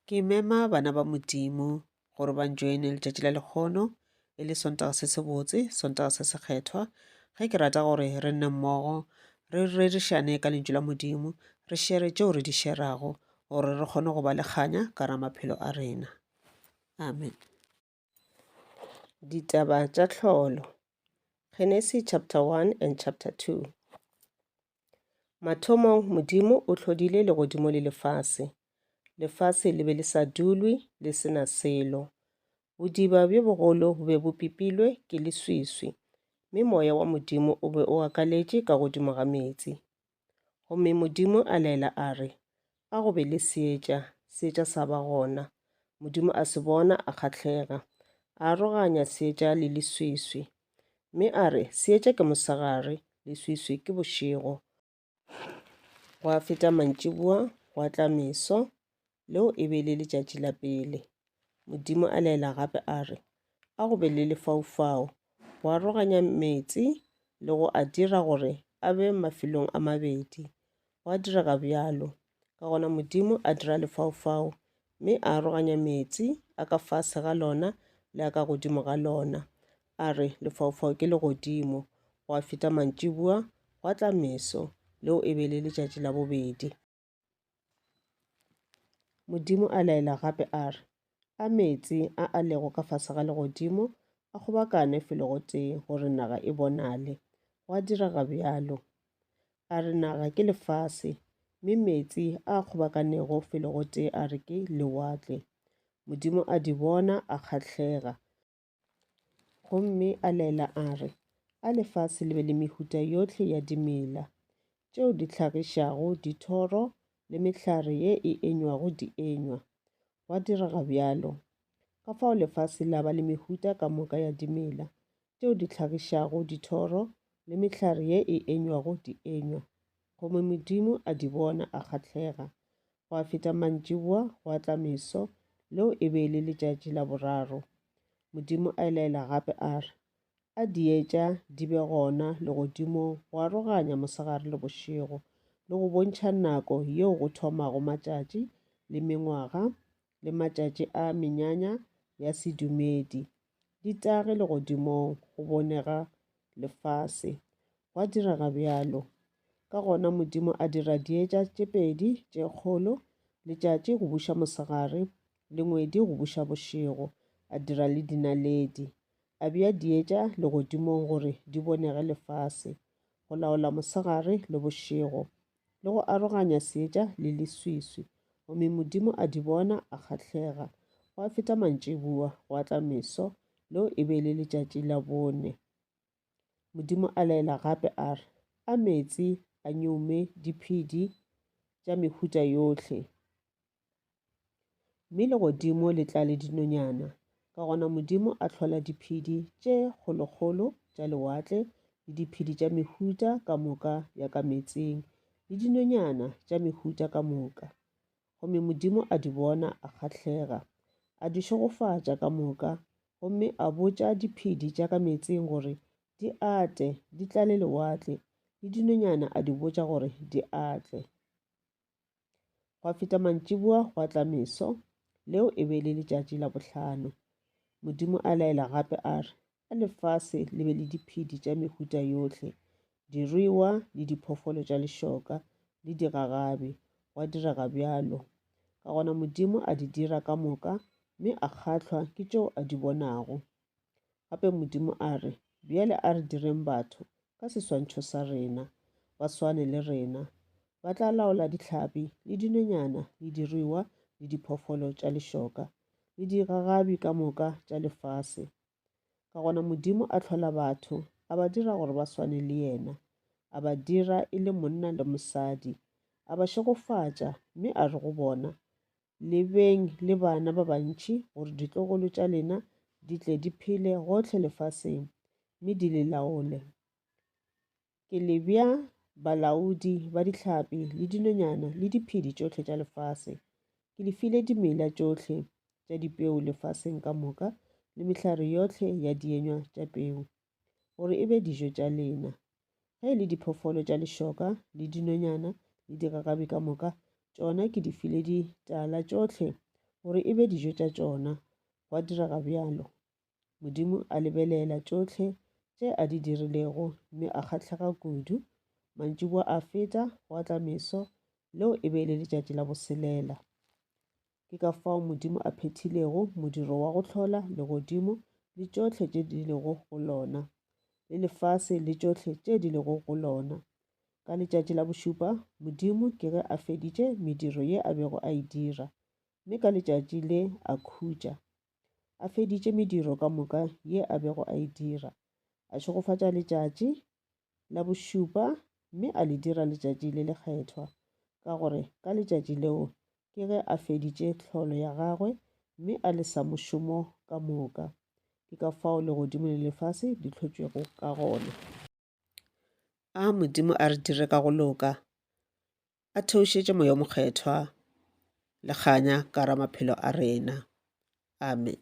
Ke mema bana ba Modimo gore ba njoine letšatši la lekgono, e le Sontaga se sebotse, Sontaga se sekgethwa, ge ke rata gore re nne mmogo, re rerišane ka Lentšu la Modimo, re šere tšeo re di šerago, gore re kgone go ba le kganya ka ra maphelo a rena. Amen. Ditaba tša tlholo. Genesis chapter 1 and chapter 2. Mathomong Modimo o tlhodile legodimo le lefase. Lefase le be le sa dulwe le sena selo. Bodiba bjo bogolo bo be bo pipilwe ke leswiswi, mme moya wa Modimo o be o akaletše ka godimo ga meetse. Gomme Modimo a laela a re, A go be le seetša, seetša sa ba gona. Modimo a se bona, a kgahlega. A aroganya seetša le leswiswi. Mme a re, Seetša ke mosegare, leswiswi ke bošego. Gwa feta mantšiboa, gwa tla meso, Leo e be e le letšatši la pele. Modimo a laela gape a re, A go be le lefaufau, go aroganya meetse le go a dira gore a be mafelong a mabedi. Gwa direga bjalo. Ka gona Modimo a dira lefaufau, mme a aroganya meetse a ka fase ga lona le a ka godimo ga lona. A re, Lefaufau ke legodimo. Gwa feta mantšibua, gwa tla meso. Leo e be e le letšatši la bobedi. Modimo a laela gape a re, A meetse a a lego ka fase ga legodimo a kgobakane felo gotee gore naga e bonale. Gwa direga bjalo. A re naga ke lefase, mme meetse a a kgobakanego felo gotee a re ke lewatle. Modimo a di bona, a kgahlega. Gomme a laela a re, A lefase le be le mehuta yohle ya dimela, tšeo di hlagišago dithoro le mehlare ye e enywago dienywa. Gwa direga bjalo. Ka fao lefase la ba le mehuta ka moka ya dimela, tšeo di hlagišago dithoro le mehlare ye e enywago dienywa. Gomme Modimo a di bona, a kgahlega. Gwa feta mantšiboa, gwa tla meso, leo e be e le letšatši la boraro. Modimo a laela gape a re, A di etša di be gona legodimong go aroganya mosegare le bošego, le go bontšha nako yeo go thomago matšatši, le mengwaga, le matšatši a menyanya ya sedumedi, Ditagi legodimong go bonega lefase. Gwa direga bjalo. Ka gona Modimo a dira dietša tše pedi tše kgolo, letšatši go buša mosegare le ngwedi go buša bošego, a dira le dinaledi. A bea dietša legodimong gore di bonege lefase, go laola mosegare le bošego, le go aroganya seetša le leswiswi, gomme Modimo a di bona, a kgahlega. Gwa feta mantšibua, gwa tla meso, leo e be e le letšatši la bone. Modimo a laela gape a re, A meetse a nyoume diphedi tša mehuta yohle. Mme legodimo le tlale dinonyana. Ka gona Modimo a tlhola diphedi tše kgolokgolo tša lewatle le diphedi tša mehuta ka moka ya ka meetseng le dinonyana tša mehuta ka moka. Gomme Modimo a di bona, a kgahlega, a di šegofatša ka moka, gomme a botša diphedi tša ka meetseng gore di ate, di tlale lewatle, le dinonyana a di botša gore di atle. Gwa feta mantšiboa gwa tla meso, leo e be le letšatši la bohlano. Modimo a laela gape a re, A lefase le be le diphedi tša mehuta yohle, diruiwa le diphoofolo tša lešoka le digagabi. Gwa direga bjalo. Ka gona Modimo a di dira ka moka, mme a kgahlwa ke tšeo a di bonago. Gape Modimo a re, Bjale a re direng batho ka seswantšho sa rena, ba swane le rena. Ba tla laola dihlapi le dinonyana le diruiwa le diphoofolo tša lešoka le digagabi ka moka tša lefase. Ka gona Modimo a tlhola batho, a ba dira gore ba swane le yena, a ba dira e le monna le mosadi, a ba šegofatša, mme a re go bona, lebeng le bana ba bantši gore ditlogolo tša lena di tle di phele gohle lefaseng mme di le laole ke le bja balaodi ba dihlapi le dinonyana le diphedi tšohle tša lefase ke le file dimela tšohle tša dipeo lefaseng ka moka le mehlare yohle ya dienywa tša peo gore e be dijo tša lena. Ge e le diphoofolo tša lešoka le dinonyana le digagabi ka moka, tšona ke di file ditala tšohle gore e be dijo tša tšona. Gwa direga bjalo. Modimo a lebelela tšohle tše a di dirilego mme a kgahlega kudu. Mantšiboa a feta, gwa tla meso, leo e be e le letšatši la boselela. Ke ka fao Modimo a phethilego modiro wa go hlola legodimo le tšohle tše di lego go lona, le lefase le tšohle tše di lego go lona. Ka letšatši la bošupa Modimo ke ge a feditše mediro ye a bego a e dira, mme ka letšatši le a khutša. A feditše mediro ka moka ye a bego a e dira, a šegofatša letšatši, la bošupa mme a le dira letšatši le lekgethwa, ka gore ka letšatši leo ke ge a feditše tlholo ya gagwe mme a le sa mošomo ka moka. Ke ka fao legodimo le lefase di hlotšwego ka gona. A Modimo a re dire ka go loka, a theošetše Moya o Mokgethwa le kganya ka ra maphelo a rena. Amen.